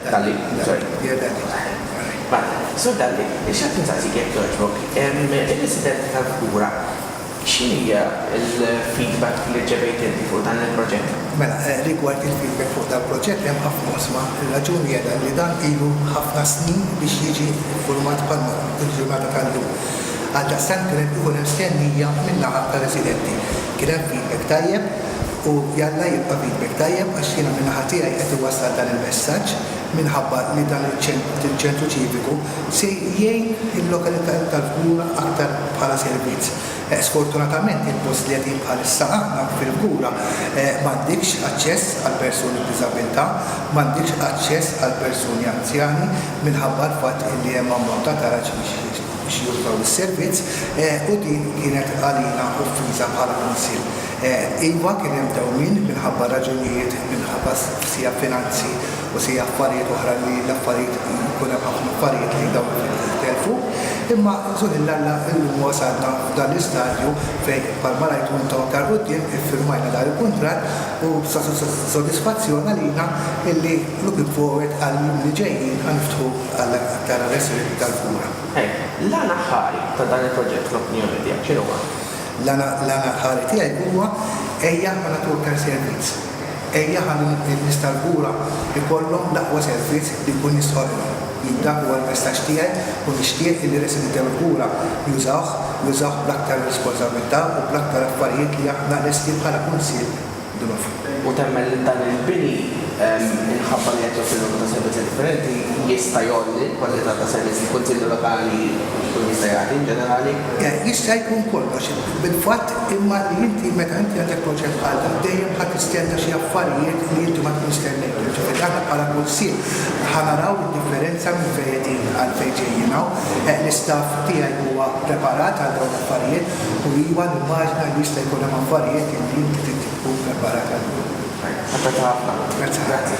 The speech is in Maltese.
Dalli, Sur Dalli, nixtieq insaqsik jekk jogħġbok, ir-residenti tal-Kura, x'inhi l-feedback li rċevejt inti fuq dan il-proġett? Mela, rigward il-feedback fuq dan il-proġett hemm ħafna oqsma. Ir-raġuni hija dan li dan ilu ħafna snin biex jiġi iffurmat bħal il-ġurnata tal-lum. Għaldaqstant kien qed ikun hemm stennija min-naħa tar-residenti. Kien hemm feedback tajjeb. u jalla jibqa' bibek tajjeb għax jiena minn naħa tiegħi qed iwassal dan il-messaġġ minħabba li dan il-ċentru ċiviku se jgħin il-lokalitajiet tal-Fgura aktar bħala servizz. Sfortunatament il-post li qegħdin bħalissa aħna fil-Fgura m'għandikx aċċess għall-persuni b'diżabbiltà, m'għandikx aċċess għall-persuni anzjani minħabba l-fatt li hemm ammont ta' garaġġ biex jużaw is-servizz u din kienet għalina offiża bħala Kunsill. Iva, kien hemm dewmien minħabba raġunijiet minħabba sija finanzi u sija affarijiet oħra li l-affarijiet jkun hemm ħafna affarijiet li dawn jintelfu. Imma suħ il Alla illum wasalna f'dan l-istadju fejn bħalma rajtu intom aktar quddiem iffirmajna dan il-kuntratt u sa sodisfazzjon għalina illi looking forward għall-jiem li ġejjin ħa niftħu għal aktar allestimenti tal-kura. L-għan aħħari ta' dan il-proġett fl-opinjoni tiegħek x'inhuwa? L-għan aħħari tiegħi huwa ejja għal atorkar servizz. Ejja ħalli n-nies tal-kura jkollhom l-aqwa servizz li nkun nista' offri. Jien dak huwa l-messaġġ tiegħi u nixtieq illi residenti tal-kura jużawh, jużawh bl-aktar responsabbiltà u bl-aktar affarijiet li aħna lesti bħala Kunsill. u temmen li dan il-bini, minħabba li qed joffri numru ta' servizzi differenti, jista' jgħolli l-kwalità ta' servizz li l-Kunsilli Lokali jkun jista' jagħti in ġenerali. Jista' jkun kollox, fil-fatt, imma li inti meta inti għandek proġett bħal dan dejjem ħa tistenna xi affarijiet li inti ma tkunx stennejthom. Ġifieri aħna bħala Kunsill ħa naraw id-differenza minn fejn qegħdin għal fejn ġejjin hawn. L-istaff tiegħi huwa preparat għal dawn l-affarijiet. U iva, nimmaġina li jista' jkun hemm affarijiet li inti trid tkun preparat għalihom. Apprezzata ħafna. Grazzi. Grazzi.